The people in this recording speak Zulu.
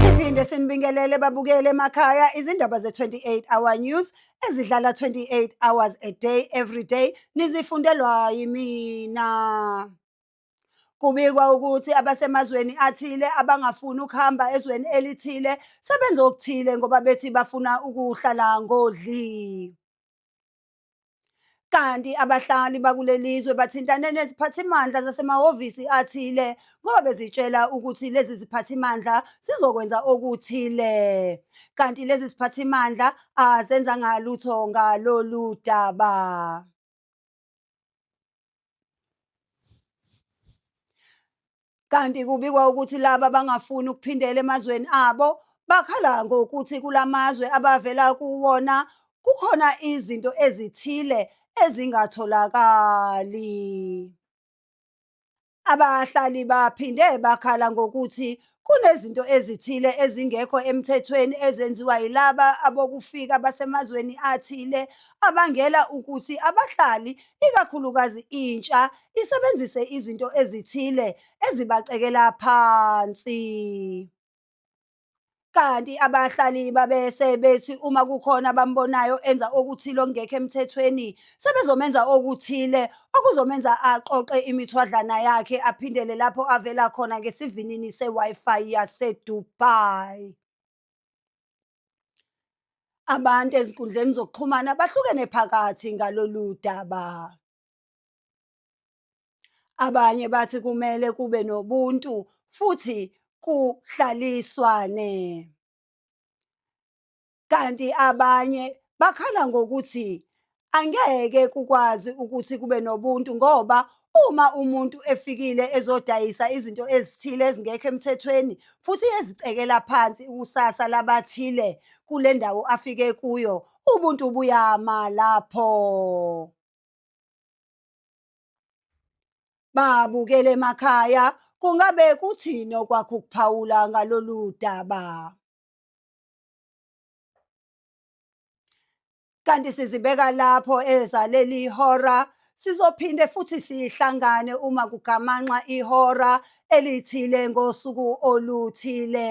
Siphinde sinibingelele babukele emakhaya izindaba ze-28 hour news ezidlala 28 hours a day every day nizifundelwa yimina. Kubikwa ukuthi abasemazweni athile abangafuni ukuhamba ezweni elithile sebenza okuthile ngoba bethi bafuna ukuhlala ngodli. kanti abahlali bakulelizwe bathintane neziphathimandla zasemahhovisi athile ngoba bezitshela ukuthi lezi ziphathimandla zizokwenza okuthile kanti lezi ziphathimandla azenzanga lutho ngalolu daba Kanti kubikwa ukuthi laba bangafuni ukuphindela emazweni abo bakhala ngokuthi kulamazwe abavela kuwona kukhona izinto ezithile ezingatholakali. Abahlali baphinde bakhala ngokuthi Kunezinto ezithile ezingekho emthethweni ezenziwa yilaba abokufika basemazweni athile abangela ukuthi abahlali, ikakhulukazi intsha, isebenzise izinto ezithile ezibacekela phansi. Kanti abahlali babese bethi uma kukhona abambonayo enza okuthile okungekho emthethweni sebezomenza okuthile okuzomenza aqoqe imithwadlana yakhe aphindele lapho avela khona ngesivinini se-Wi-Fi yaseDubai. Abantu ezinkundleni zokuxhumana bahlukene phakathi ngalolu daba. Abanye bathi kumele kube nobuntu futhi kuhlaliswane. kanti abanye bakhala ngokuthi angeke kukwazi ukuthi kube nobuntu ngoba uma umuntu efikile ezodayisa izinto ezithile ezingekho emthethweni futhi ezicekela phansi ikusasa labathile kule ndawo afike kuyo ubuntu buyama lapho babukele emakhaya kungabe kuthini okwakho ukuphawula ngalolu daba Kanti sizibeka lapho ezaleli ihora sizophinde futhi sihlangane uma kugamanxa ihora elithile ngosuku oluthile.